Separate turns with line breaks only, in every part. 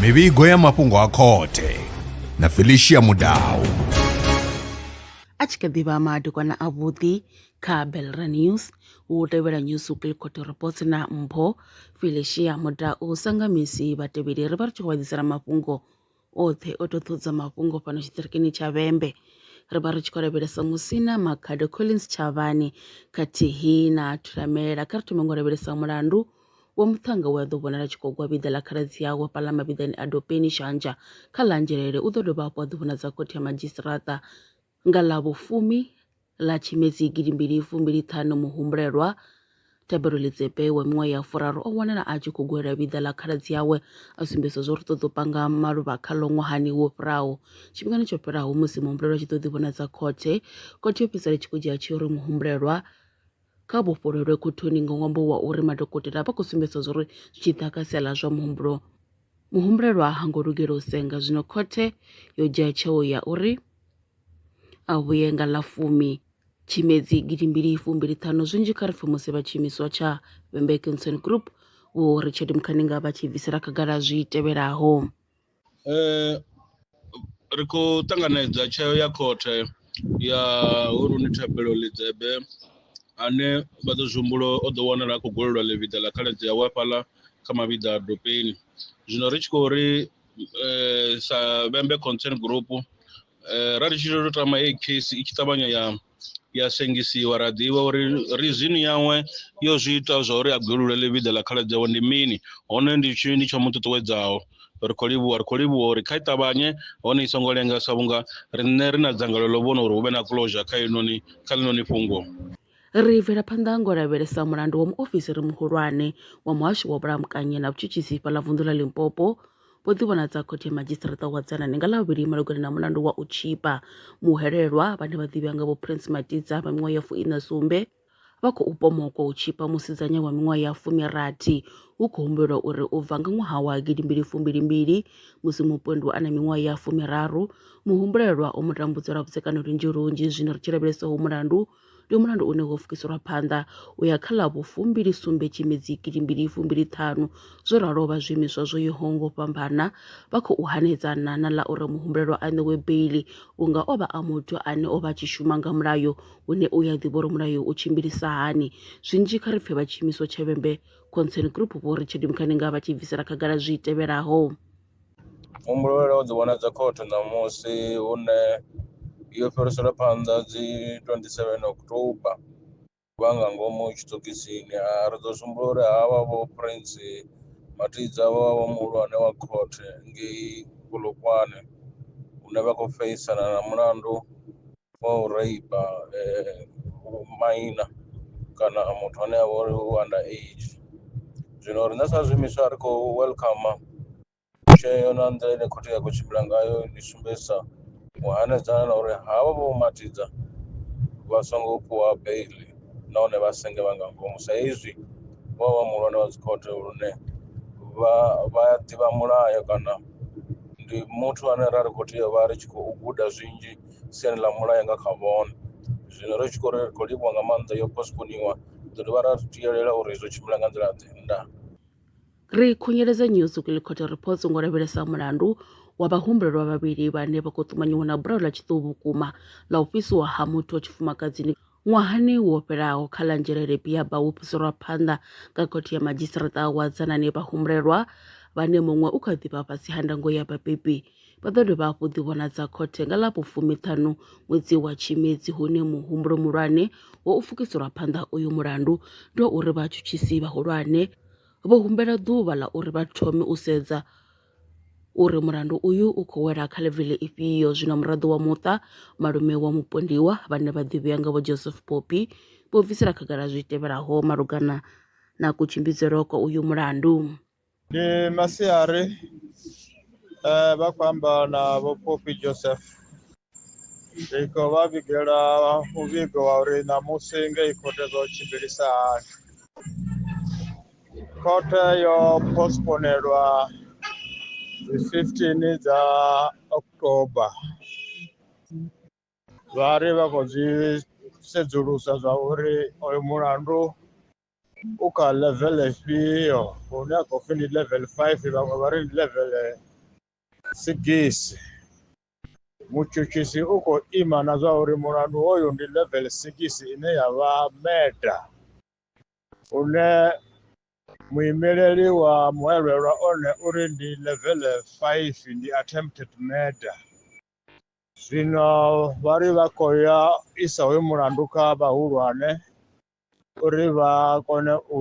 mivhigo ya mafhungo a khothe na felicia mudau
a tshi kha ḓi vha madekwana avhuḓi kha belra news hu tevhela news kilcoto reports na mpho felicia mudau sangamisi vhatevheli ri vha ri tshi khou vha ḓisela mafhungo oṱhe o to ṱohudza mafhungo fhano tshiṱirikini tsha vhembe ri vha ri tshi khou lavhelesa musina makhado collins tshavhani khathihi na thulamela kha ri thome ngo lavhelesa mulandu wa muṱhannga we a ḓo vhonala tshi khou gwa vhiḓa ḽa khaladzi yawe fhaḽa mavhiḓani a dopeni shanja kha ḽa anzhelele u ḓo dovha hafhu a ḓi vhonadza khothe ya madzhisiṱiraṱa Nga ḽa vhufumi ḽa Tshimedzi gidimbili fumbili ṱhanu muhumbulelwa Thabelo Lidzepe wa miṅwaha ya furaru o wanala a tshi khou gwela vhiḓa ḽa khaladzi awe a sumbedzisa zwo ri ṱoḓa u panga maluvha khaḽo ṅwahani wo fhiraho. Tshifhingani tsho fhelaho musi muhumbulelwa tshi ḓo ḓivhonadza khothe, khothe yo fhedzisela tshi khou dzhia tsheo uri muhumbulelwa Kha vhofhololwe khothoni nga ṅwambo wa uri madokotela a vha khou sumbedza zwa uri zwi tshi ḓa kha sia ḽa zwa muhumbulo, muhumbulelwa ha ngo lugela u senga. Zwino khothe yo dzhia tsheo ya uri a vhuye nga ḽa fumi Tshimedzi gidi mbili fumbili ṱhanu. Zwinzhi kha ri pfe musi vha tshiimiswa tsha Vhembe Cancer Group Vho Richard Mukhaninga vha tshi bvisela khagala zwi tevhelaho.
ri khou ṱanganedza tsheo ya khothe ya Huruni Thabelo Lidzebe ane vha ḓo zwihumbulo o ḓo wanala a khou golelwa ḽivhiḓa ḽa khaladzi yawe hafhaḽa kha mavhiḓa a dopeni zwino ri tshi khou ri sa vhembe concern group ra ri tshi tou tama heyi case i tshi ṱavhanya ya ya sengisiwa ra ḓivha uri rizini yawe yo zwi ita zwa uri a gwelulele vhiḓa ḽa khaladzi yawe ndi mini hone ndi tshini ndi tsho mu ṱuṱuwedzaho ri khou livhuwa ri khou livhuwa uri kha i ṱavhanye hone i songo lenga sa vhunga riṋe ri na dzangalelo ḽo vhona uri hu vhe na closure kha inoni kha ḽinoni fhungo Ri bvela
phanḓa ngo lavhelesa mulandu wa muofisiri muhulwane wa muhasho wa vhulamukanyi na vhutshutshisi fhaḽa vunḓu ḽa Limpopo vho ḓivhonadza Khothe ya Madzhisiṱiraṱa wa Dzana ni nga Ḽavhuvhili malugana na mulandu wa u tshipa muhwelelwa vhane vha ḓivhea nga vho Prince Matidza vha miṅwaha ya fuiṋa sumbe vha khou pomokwa u tshipa musidzanya wa miṅwaha ya fumirathi hu khou humbelwa uri u bva nga ṅwaha wa gidimbili fumbilimbili musi mupondwa a na miṅwaha ya fumiraru muhumbulelwa o mu tambudza lwa vhudzekani lunzhi lunzhi zwino ri tshi lavhelesa ho mulandu ndi mulandu une wo pfukiselwa phanḓa u ya kha ḽa vhufumbili sumbe tshimedzi gidimbili fumbili ṱhanu zwo ralo vha zwiimiswa zwo yaho ngo fhambana vha khou hanedzana na ḽa uri muhumbulelwa a ṋewe beili vhunga o vha a muthu ane o vha tshi shuma nga mulayo hune u ya ḓivha uri mulayo u tshimbilisa hani zwinzhi kha ri pfhe vha tshiimiswa tshevhembe concern group vho richard mukhaninga vha tshi bvisela khagala zwi tevhelaho
Muhumbulo wo dzi vhona dza khothe ṋamusi hune yo fhiriselwa phanḓa dzi 27 October vha nga ngomu tshitokisini ri ḓo sumbula uri havha vho Prince Mathidza vho vha vho muhulwane wa khothe ngei Polokwane hune vha khou feisana na mulandu wa u raipa maina kana muthu ane avha uri u under age zwino riṋe sa zwiimiswa ri khou welcome tsheo na nḓila ine khothe ya khou tshimbila ngayo ndi sumbedzisa u hanedzana na uri havha vho matidza vha songo fhiwa beiḽi nahone vha senge vha nga ngomu sa izwi vho vha muhulwane wa dzikhothe lune vha vha ya ḓivha mulayo kana ndi muthu ane ra ri khou tea vha ri tshi khou guda zwinzhi. siani ḽa mulayo nga kha vhone zwino ri tshi khou ri ri khou livhuwa nga maanḓa yo postponiwa ḓo dovha ra tiyelela uri izwo tshimbila nga nḓila ḓe nda ri
khunyeledza New Zukile Court Reports ngo lavhelesa mulandu wa vhahumbulelwa vhavhili vhane vha khou ṱumanyiwa na bulayo ḽa tshiṱuhu vhukuma ḽa u fhisiwa ha muthu wa tshifumakadzini Ṅwahani wo fhelaho kha ḽa Nzhelele Biaba wo fhiselwa phanḓa nga khothe ya madzhisiṱiraṱa wa Dzanani vhahumbulelwa vhane muṅwe u kha ḓi vha fhasi ha ndango ya vhabebi vha ḓo dovha hafhu ḓivhonadza khothe nga ḽa vhufumiṱhanu ṅwedzi wa Tshimedzi hune muhumbulo muhulwane wo u fukiselwa phanḓa uyu mulandu ndi wa uri vhatshutshisi vhahulwane vho humbela ḓuvha ḽa uri vha thome u sedza uri mulandu uyu u khou wela kha ḽevele ifhio. Zwino muraḓo wa muṱa, malume wa mupondiwa, vhane vha ḓivhea nga Vho Joseph Poppy, vho bvisela khagala zwi tevhelaho malugana na kutshimbidzelwe kwa uyu mulandu. Ndi
masiari vha khou amba na Vho Poppy Joseph. Iko vha vhigela muvhigo wa uri ṋamusi ngei khothe zwo tshimbilisa hani khothe yo postponelwa dzi 15 dza october vha ri vha khou zwi sedzulusa zwa uri oyo mulandu u kha level ifhio hune a khou pfhi ndi level five vhaṅwe vha ri ndi level Sigisi. Mutshutshisi u khou ima na zwa uri mulandu hoyu ndi level 6 ine ya vha meta une muimeleli wa muelwelwa one uri ndi level 5 ndi attempted murder zwino vha ri vha khou ya isa hoyu mulandu kha vhahulwane uri vha kone u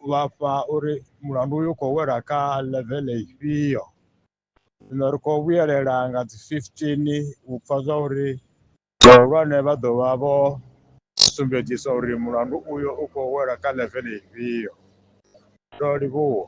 vhafha uri mulandu uyu khou wela kha level ifhio zwino ri khou vhuyelela nga dzi 15 u pfha zwa uri vhahulwane vha ḓo vha vho sumbedzisa uri mulandu uyo u khou wela kha level ifhio ndo livhuwa